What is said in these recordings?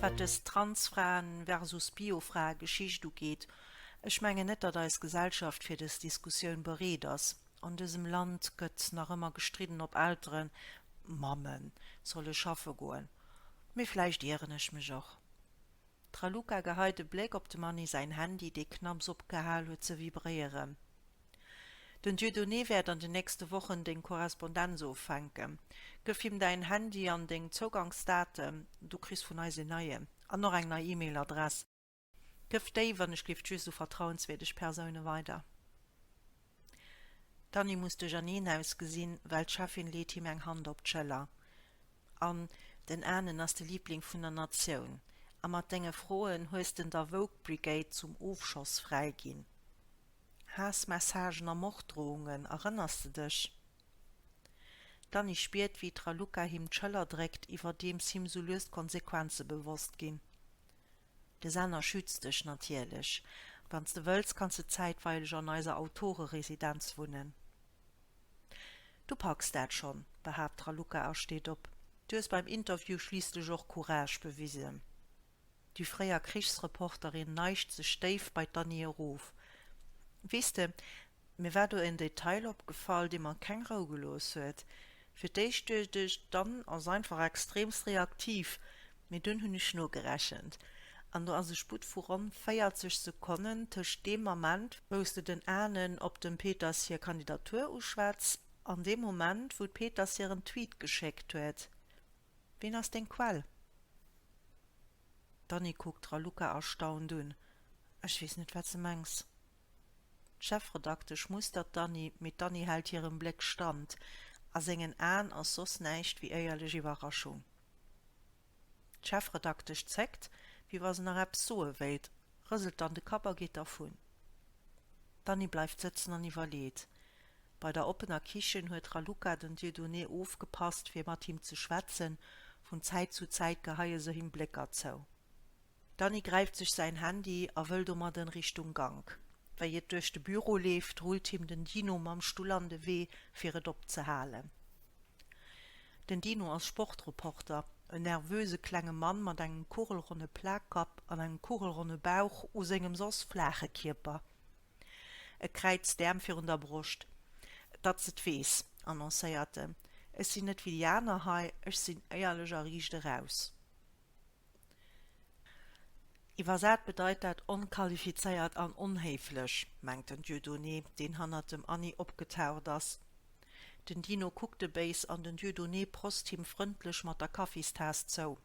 Wat dës Transfraen versus Biofrae-Geschicht ugeet, ech mengen net, datt eis Gesellschaft fir dës Diskussioun bereet ass. An dësem Land gëtt nach ëmmer gestridden, ob Elteren, Mammen, solle schaffe goen. Mee vläicht ieren ech mech och. D'Raluca geheit e Bléck op dem Anni säin Handy, dee knapps opgehal huet ze vibréieren. Den Dieudonné wäert an den nächste Wochen deng Korrespondenz offänken. Gëff him däin Handy an deng Zougangsdaten, du kriss vun eis een neien an och eng nei E-Mail-Adress. Gëff déi, wann ech giff, just u vertrauenswierdeg Persoune weider. D'Annie muss duercherneen ausgesinn, well d'Cheffin leet him eng Hand op d'Schëller, An den Anen ass de Liibling vun der Natioun. A mat denge Froen hues de der Woke Brigade zum Ofschoss fräi ginn. Haassmessagen a Morddrohungen, erënners de dech? D'Annie spiert, wéi d'Raluca him d'Schëller dréckt, iwwerdeems him sou lues d'Konsequenze bewosst ginn. De Sender schützt dech natierlech. Wann s de wëlls, kanns de zäitweileg an eiser Autoreresidenz wunnen. Du packs dat schonn, behaapt d'Raluca a steet op. Du hues beim Interview schliisslech och Courage bewisen. Déi fréier Krichsreporterin neigt sech déif bei d'Annie erof. Weess de, Mir war do en Detail opgefall, dee mer keng Rou gelooss huet. Fir d'éischt duecht ech, d'Anne ass einfach extremst reaktiv, mee dunn hunn ech nogerechent an do ass e Sputt vu ronn 40 Sekonnen tëscht deem Ament, wou s de den Anne op dem Peters hir Kandidatur uschwätz, an deem Moment, wou d'Peters hir en Tweet geschéckt huet. Ween ass deng Quell? D'Anne kuckt d'Raluca erstaunt un, Ech weess net, wat s de mengs. D'Chefredaktesch mustert d'Anni, mee d'Anni hält hirem Bléck stand, a sengen Aen ass soss näischt wéi éierlech Iwwerraschung. D'Chefredaktesch zéckt, wéi wa se nach eppes soe wéilt, rëselt dann de Kapp a geet dervun. D'Anni bleift sëtzen an iwwerleet. Bei der oppener Kichen huet d'Raluca den Dieudonné ofgepasst, fir mat him ze schwätzen, vun Zäit zu Zäit geheie se him Blécker zou. D'Annie gräift sech säin Handy a wëll domadden Richtung Gank. Wéi et duerch de Büro leeft, rullt him den Dino mam Stull an de Wee, fir et opzehalen. Den Dino ass Sportreporter, en nervöse klenge Mann mat engem kugelronne Plakkapp an engem kugelronne Bauch u sengem soss flaache Kierper. E kräizt d'Äerm virun der Broscht. Datt s et weess, annoncéiert en, ech sinn net wéi déi aner hei, ech sinn éierlech a riicht eraus. Iwwersat bedeit dat onqualifizéiert an onhéiflech, mengt den Dieudonné, deen hannert dem Anni opgetaucht ass. Den Dino kuckt e béis an den Dieudonné prost him frëndlech mat der Kaffistaass zou.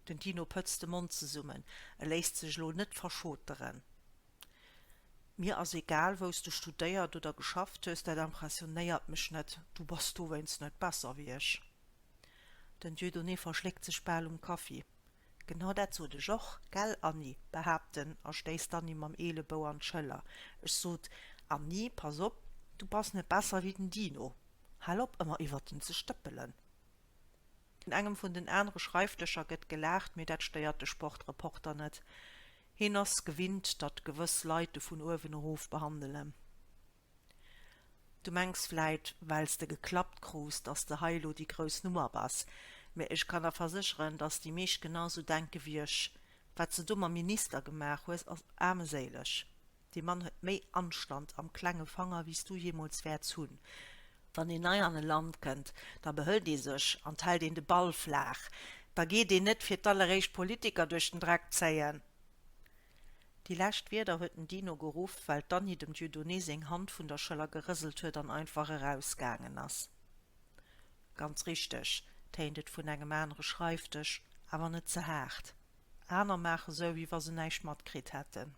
Den Dino pëtzt de Mond zesummen, e léisst sech elo net verschoteren. Mir ass egal wou s de studéiert oder geschafft hues, dat impressionéiert mech net, du bass dowéinst net besser wéi ech. Den Dieudonné verschléckt sech bal um Kaffi. Genau dat sot ech och, gell Anni? behaapt en a stéisst d'Anni mam Eelebou an d'Schëller. Ech sot, Anni, pass op, du bass net besser wéi den Dino, hal op ëmmer iwwert en ze stëppelen. Un engem vun den anere Schreifdëscher gëtt gelaacht, mee dat stéiert de Sportreporter net. Heen ass gewinnt, datt gewëss Leit de vun uewen erof behandelen. Du mengs vläit, well s de geklappt krus, datt s de hei elo déi grouss Nummer bass. Mee ech kann der versécheren, datt déi meescht genau sou denke wéi ech. Wat s de do mam Minister gemaach hues, ass aarmeséileg. Dee Mann huet méi Anstand am klenge Fanger wéi's du jeemools wäerts hunn. Wann een nei an e Land kënnt, da behëlt ee sech an d'hält een de Ball flaach. Da geet een net fir d'alleréischt d'Politiker duerch den Dreck zéien. Déi lescht Wierder huet den Dino geruff, well d'Anni dem Dieudonné seng Hand vun der Schëller gerëselt huet an einfach erausgaangen ass. Ganz richteg, téint et vun engem anere Schreifdësch, awer net ze haart. Aner maache sou, wéi wa se näischt matkritt hätten.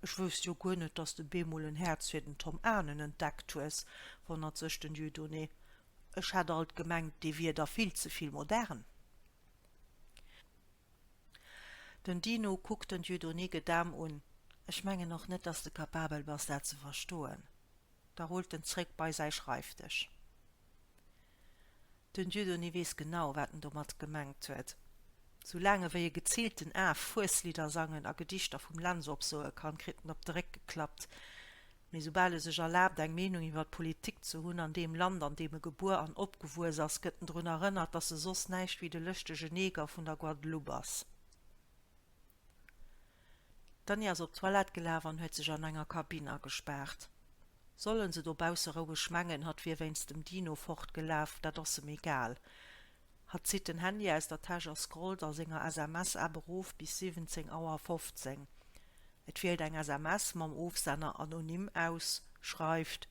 Ech wousst jo guer net, dass de bemol en Häerz fir den Tom Anen entdeckt hues, wonnert sech den Dieudonné. Ech hat alt gemengt, dee wier der vill ze vill modern. Den Dino kuckt den Dieudonné gedaam un, Ech mengen och net, dass de kapabel bass, dat ze verstoen. Da rullt en zréck bei säi Schreifdësch. Den Dieudonné weess genau, wat en domat gemengt huet. Sou laang ewéi e geziilten Af Fueslidder sangen a Gedichter vum Lentz opsoe kann, kritt en op de Réck geklappt. Mee soubal e sech erlaabt, eng Meenung iwwer d'Politik ze hunn an deem Land, an deem e gebuer an opgewuess ass, gëtt en drun erënnert, datt e soss näischt ewéi de lëschtege Neger vun der Guadeloupe ass. D'Annie ass op d'Toilette gelaf an huet sech an enger Kabinn agespaart. Sollen se dobausse roueg mengen, hatt wier wéinst dem Dino fort gelaf, dat ass em egal. Hatt zitt den Handy aus der Täsch a scrollt a senger SMS-App erof bis 17 Auer 15. Et wielt eng SMS mam Ofsenner anonym aus, schreift.